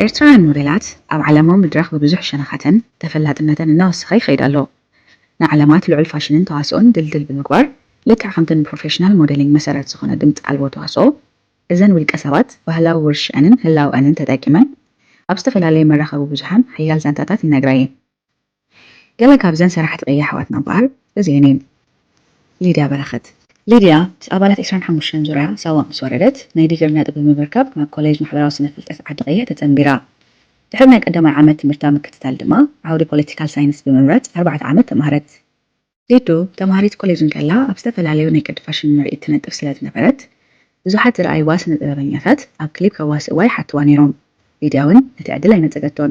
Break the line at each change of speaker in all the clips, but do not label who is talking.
ኤርትራውያን ሞዴላት ኣብ ዓለማዊ መድረኽ ብብዙሕ ሸነኻተን ተፈላጥነተን እናወሰኸ ይኸይድ ኣሎ። ንዓለማት ልዑል ፋሽንን ተዋስኦን ድልድል ብምግባር፣ ልክዕ ከምቲ ንፕሮፌሽናል ሞዴሊንግ መሰረት ዝኾነ ድምጺ ኣልቦ ተዋስኦ፣ እዘን ውልቀሰባት ባህላዊ ውርሽዐንን ህላወኣንን ተጠቂመን ኣብ ዝተፈላለየ መራኸቢ ብዙሓን ሓያል ዛንታታት ይነግራ እየን። ገለ ካብዘን ሰራሕቲ ቅያ ኣሕዋትና እምበኣር እዚኤን እየን፣ ሊድያ በረኸት። ሊድያ ምስ ኣባላት ዕስራን ሓሙሽተን ዙርያ ሳዋ ምስ ወረደት፣ ናይ ዲግሪ ነጥቢ ብምርካብ ናብ ኮሌጅ ማሕበራዊ ስነ-ፍልጠት ዓዲ-ቅየ ተጸንቢራ። ድሕሪ ናይ ቀዳማይ ዓመት ትምህርታ ምክትታል ድማ፣ ዓውዲ ፖለቲካል ሳይንስ ብምምራጽ ኣርባዕተ ዓመት ተማህረት። ሊዱ ተምሃሪት ኮሌጅ እንከላ ኣብ ዝተፈላለዩ ናይ ቅዲ ፋሽን ምርኢት ትነጥፍ ስለ ዝነበረት፣ ብዙሓት ዝረኣይዋ ስነ-ጥበበኛታት ኣብ ክሊፕ ከዋስእዋ ይሓትዋ ነይሮም። ሊድያ'ውን ነቲ ዕድል ኣይነጸገቶን።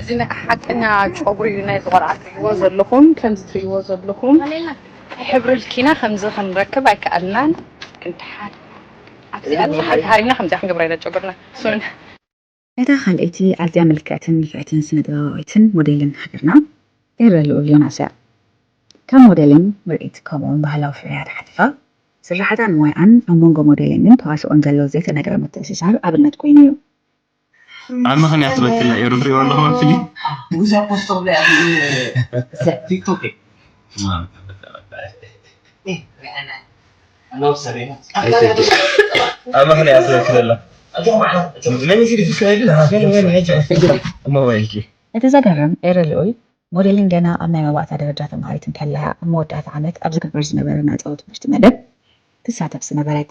እዚ ናይ ሓቀኛ ጨጉሪ እዩ ናይ ዝቆልዓ ትሪእዎ ዘለኹም ከምዚ ትሪእዎ ዘለኹም ሕብሪ ልኪና ከምዚ ክንረክብ ኣይከኣልናን ግን ድሓን ኣብዚኣ ድሓን ተሃሪምና ከምዚኣ ክንገብራ ኢና ጨጉርና ሱን እታ
ካልኣይቲ ኣዝያ ምልክዕትን ንፍዕትን ስነ-ጥበባዊትን ሞዴልን ሃገርና ኤረ ልኡል ዮናስ እያ። ካብ ሞዴሊንግ ምርኢት ከምኡ'ውን ባህላዊ ፍርያት ሓሊፋ፣ ስርሓታን ሞያኣን ኣብ መንጎ ሞዴሊንግን ተዋስኦን ዘሎ ዘይተነግረ ምትእስሳር ኣብነት ኮይኑ እዩ።
ኣብ ምክንያት በክል ናይ ኤሩ ትሪኦ ኣለኹ ኣብ ፊልም ብዙሕ ፖስቶ
ብላይ ኣብ ቲክቶክ
ኣብ ምክንያት በክል ኣላ እቲ ዘገርም ኤረ
ልኡል ሞዴሊን ገና ኣብ ናይ መባእታ ደረጃ ተምሃሪት እንከላ ኣብ መወዳእታ ዓመት ኣብ ዝግበር ዝነበረ ናይ ጸወት ትምህርቲ መደብ ትሳተፍ ዝነበረት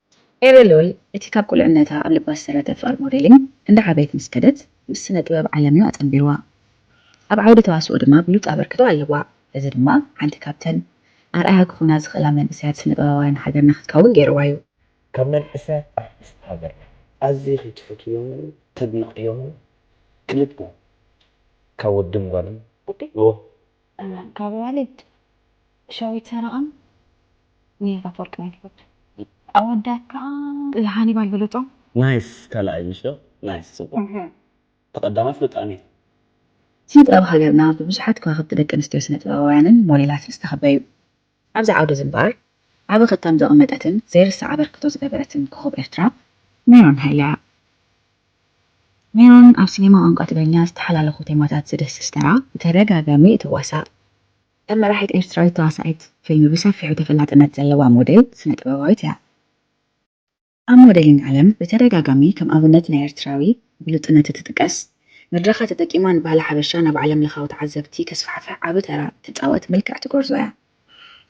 ኤረ ሉል እቲ ካብ ቁልዕነታ ኣብ ልባ ዝተሰረተ ፍቅሪ ሞዴሊንግ እንዳዓበየት ምስ ከደት ምስ ስነ ጥበብ ዓለም እዩ ኣጸንቢርዋ ኣብ ዓውዲ ተዋስኦ ድማ ብሉጽ ኣበርክቶ ኣለዋ እዚ ድማ ሓንቲ ካብተን ኣርኣያ ክኾና ዝኽእላ መንእሰያት ስነ ጥበባውያን ሃገርና ክትከውን ጌርዋ እዩ። ካብ መንእሰያት
ኣርቲስት ሃገርና ኣዚኺ ትፈትውዮምን ተድንቅዮምን ክልተ ካብ ወድን ጓልን ኦህ ካብ
ኣዋልድ ሸዊት ሰረቐን ሜላት ኣፈወርቂ ናይ ትውልድ ኣወዳት ከኣ ሃኒባል ብሉጾም። ናይስ ካልኣይ
ምሽ ናይስ ጽቡቅ ተቀዳማይ ፍሉጣን እዩ። ስነ
ጥበብ ሃገርና ብብዙሓት ከዋኽብቲ ደቂ ኣንስትዮ ስነ ጥበባውያንን ሞዴላትን ዝተኸበ እዩ። ኣብዚ ዓውዲ'ዚ እምበኣር ዓቢ ክታም ዘቐመጠትን ዘይርሳዕ ኣበርክቶ ዝገበረትን ኮኾብ ኤርትራ ሜሮን ሃይለ'ያ። ሜሮን ኣብ ሲነማ ቋንቋ ትግርኛ ዝተሓላለኹ ቴማታት ዝድህስስ ተራ ብተደጋጋሚ እትዋሳእ፣ ከም መራሒት ኤርትራዊት ተዋሳኢት ፊልሚ ብሰፊሑ ተፈላጥነት ዘለዋ ሞዴል ስነ-ጥበባዊት'ያ። ኣብ ሞደሊን ዓለም ብተደጋጋሚ ከም ኣብነት ናይ ኤርትራዊ ብሉጽነት እትጥቀስ፣ መድረኻ ተጠቂማ ንባህሊ ሓበሻ ናብ ዓለም ለኻዊ ተዓዘብቲ ከስፋሕፍሕ ዓቢ ተራ እትጻወት ምልክዕቲ ጎርዞ እያ።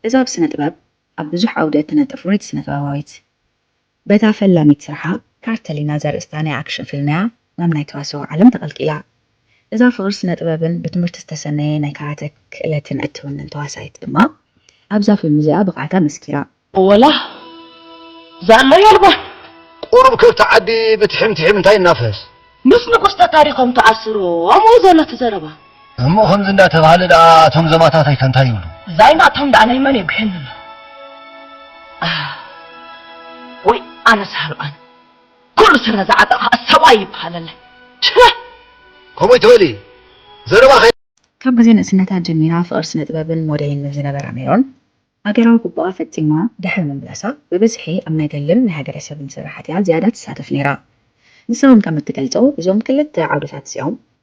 እዛ ኣብ ስነ ጥበብ ኣብ ብዙሕ ዓውዲ እትነጥፍ ፍሉይቲ ስነ ጥበባዊት፣ በታ ፈላሚት ስርሓ ካርተሊና ዘርእስታ ናይ ኣክሽን ፊልም እያ ናብ ናይ ተዋስኦ ዓለም ተቐልቂላ። እዛ ፍቕሪ ስነ-ጥበብን ብትምህርቲ ዝተሰነየ ናይ ካራተ ክእለትን እትውንን ተዋሳኢት ድማ ኣብዛ ፊልም እዚኣ ብቕዓታ መስኪራ። ወላ
ዛላ የልቦን። ቁሩብ ከብቲ ዓዲ ብትሒም ትሒም እንታይ እናፍህስ። ምስ ንጉስ
ተታሪኾም ተኣስሮም ዩ ዘሎ እቲ ዘረባ። እሞ ከምዚ
እንዳተባህለ ደኣ እቶም ዘማታተይከ እንታይ ይብሉ? ዛይ ናቶም ደኣ
ናይ መን የጉሕየኒ ኣሎ። ኣህ ወይ ኣነስ ሃልዋኒ። ኩሉ ስረ ዝዓጠቐ ከኣ ሰብኣይ ይበሃለለ ሽረ።
ከምኡ ትበሊ ዘረባ ከይ። ካብ ግዜ ንእስነታ
ጀሚራ ፍቕሪ ስነ-ጥበብን ሞደይን ምስ ዝነበራ ሜሮን፣ ሃገራዊ ግቡኣ ፈጺማ ድሕሪ ምምላሳ፣ ብብዝሒ ኣብ ናይ ገልን ናይ ሃገረሰብን ስራሓት'ያ ዝያዳ ትሳተፍ ነይራ። ንሳ ውን ከም እትገልጾ፣ እዞም ክልተ ዓውድታት እዚኦም፣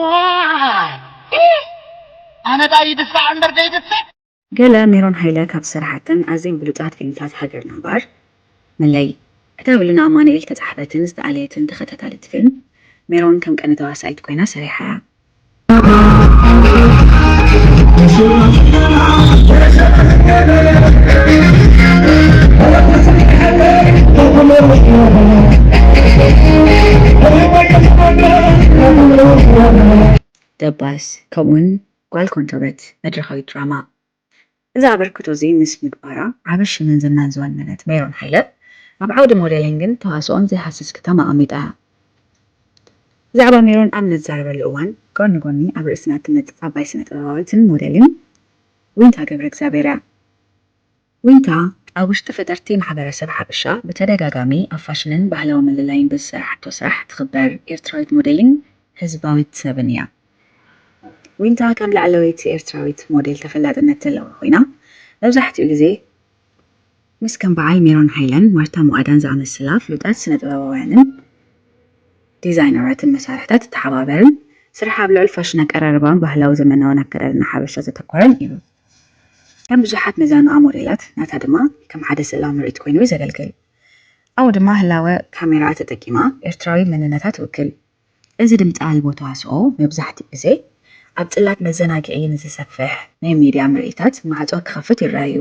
ዋይ ኣነ ዳኣ ይድፋዕ እምበር ደይድፍእ። ገለ ሜሮን
ሃይለ ካብ ዝሰረሓተን ኣዝየን ብሉጻት ፊልምታት ሃገርና እምበኣር መለይ ክታብሉ ን ኣማኑኤል ተጻሓፈትን ዝተኣለየትን ተኸታታሊት ፊልም ሜሮን ከም ቀንዲ ተዋሳኢት ኮይና ሰሪሓ እያ። ደባስ ከምኡውን ጓል ኮንቶበት መድረኻዊት ድራማ እዚ ኣበርክቶ እዚ ምስ ምግባራ ዓቢ ሽምን ዝናን ዝወነነት ሜሮን ሃይለ፣ ኣብ ዓውዲ ሞዴሊንግን ተዋስኦን ዘይሃስስ ክታም ኣቐሚጣ እያ። ብዛዕባ ሜሮን ኣብ እንዛረበሉ እዋን፣ ጎኒ ጎኒ ኣብ ርእስና እትመጽእ ዓባይ ስነ-ጥበባዊትን ሞዴልን ዊንታ ገብረእግዚኣብሄር እያ። ዊንታ ኣብ ውሽጢ ፈጠርቲ ማሕበረሰብ ሓበሻ ብተደጋጋሚ ኣብ ፋሽንን ባህላዊ ምልላይን ብዝሰራሓቶ ስራሕ ትኽበር ኤርትራዊት ሞዴልን ህዝባዊት ሰብን እያ። ዊንታ ከም ላዕለወይቲ ኤርትራዊት ሞዴል ተፈላጥነት ዘለዋ ኮይና መብዛሕትኡ ግዜ ምስ ከም በዓል ሜሮን ሃይለን ማርታ ሞኣዳን ዝኣመሰላ ፍሉጣት ስነ-ጥበባውያንን ዲዛይነራትን መሳርሕታ ትተሓባበርን ስርሓ ኣብ ልዑል ፋሽን ኣቀራርባ ባህላዊ ዘመናውን ኣከዳድና ሓበሻ ዘተኮረን እዩ። ከም ብዙሓት መዛንኣ ሞዴላት ናታ ድማ ከም ሓደ ስእላዊ ምርኢት ኮይኑ እዩ ዘገልግል። ኣብኡ ድማ ህላወ ካሜራኣ ተጠቂማ ኤርትራዊ መንነታ ትውክል። እዚ ድምጺ ኣልቦ ተዋስኦ መብዛሕትኡ ግዜ ኣብ ጽላት መዘናግዒ ንዝሰፍሕ ናይ ሚድያ ምርኢታት ማዕጾ ክኸፍት ይረኣ'ዩ።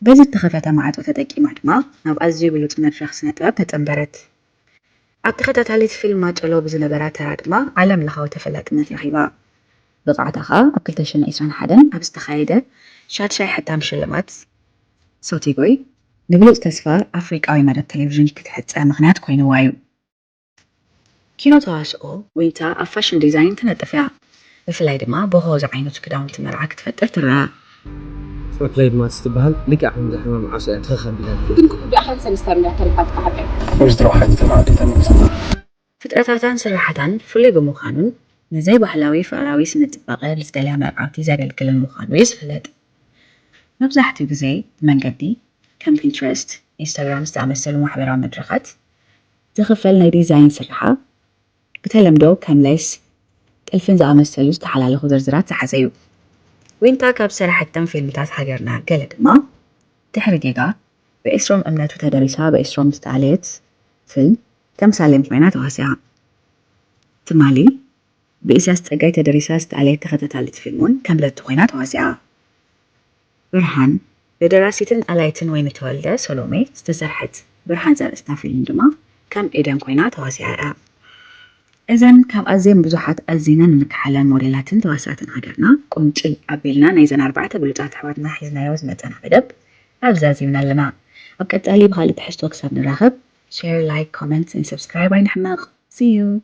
በዚ እተኸፈተ ማዕጾ ተጠቂማ ድማ ናብ ኣዝዩ ብሉጽ መድረኽ ስነ-ጥበብ ተጸንበረት። ኣብ ተኸታታሊት ፊልም ማጨሎ ብዝነበራ ተራ ድማ ዓለምለኻዊ ተፈላጥነት ረኺባ። ብቕዓታ ከኣ ኣብ ክልተ ሽሕን ዕስራን ሓደን ኣብ ዝተኻየደ ሻድሻይ ሕታም ሽልማት ሶቲጎይ ንብሉጽ ተስፋ ኣፍሪቃዊ መደብ ተሌቪዥን ክትሕጸ ምኽንያት ኮይኑዋ'ዩ። ኪኖ ተዋስኦ ዊንታ ኣብ ፋሽን ዲዛይን ትነጥፍ እያ። ብፍላይ ድማ ቦሆ ዝዓይነቱ ክዳውንቲ መርዓ ክትፈጥር ትረኣ። ጸጉረይ
ድማ ትበሃል ልክዕ ከምዛ ሕማም ዓሶ እያ ትኽኽ ኣቢላትኒ። ግን ክቡር ድኣ ሓንቲ ሰለስተ
ኣቢላ ተሪፋትካ ሓቀይ። ወይዘሮ
ሓንቲ ተባዕትይ ተመሊሳ። ፍጥረታታን
ስርሓታን ፍሉይ ብምዃኑን ንዘይ ባህላዊ ፍቕራዊ ስነ-ጽባቐ ንዝደልያ መርዓውቲ ዘገልግልን ምዃኑ እዩ ዝፍለጥ። መብዛሕትኡ ግዜ ብመንገዲ ከም ፒንትረስት፣ ኢንስታግራም ዝኣመሰሉ ማሕበራዊ መድረኻት ዝኽፈል ናይ ዲዛይን ስርሓ ብተለምዶ ከም ሌስ፣ ጥልፍን ዝኣመሰሉ ዝተሓላለኹ ዝርዝራት ዝሓዘ እዩ። ዊንታ ካብ ዝሰረሐቶም ፊልምታት ሃገርና ገለ ድማ፣ ድሕሪ ጌጋ፣ ብኤስሮም እምነቱ ተደሪሳ ብኤስሮም ዝተኣለየት ፍልም ተምሳሌን ኮይና ተዋሲኣ። ትማሊ ብኢሳያስ ጸጋይ ተደሪሳ ዝተኣልየት ተኸታታሊት ፊልም'ውን ከም ለቱ ኮይና ተዋሲኣ። ብርሃን፣ ብደራሲትን ኣላይትን ወይኒ ተወልደ፣ ሰሎሜ፣ ዝተሰርሐት ብርሃን ዘርእስታ ፊልም ድማ ከም ኤደን ኮይና ተዋሲኣ'ያ። እዘን ካብ ኣዝየን ብዙሓት ኣዚና እንከሓለን ሞዴላትን ተዋሳእትን ሃገርና፣ ቁንጭል ኣቢልና ናይዘን ኣርባዕተ ብሉጻት ኣሕዋትና ሒዝናዮ ዝመጸና መደብ ኣብዚ ዛዚምና ኣለና። ኣብ ቀጻሊ ብኻልእ ትሕዝቶ ክሳብ ንራኸብ፣ Share Like Comment and Subscribe ኣይንሕመቕ! See you!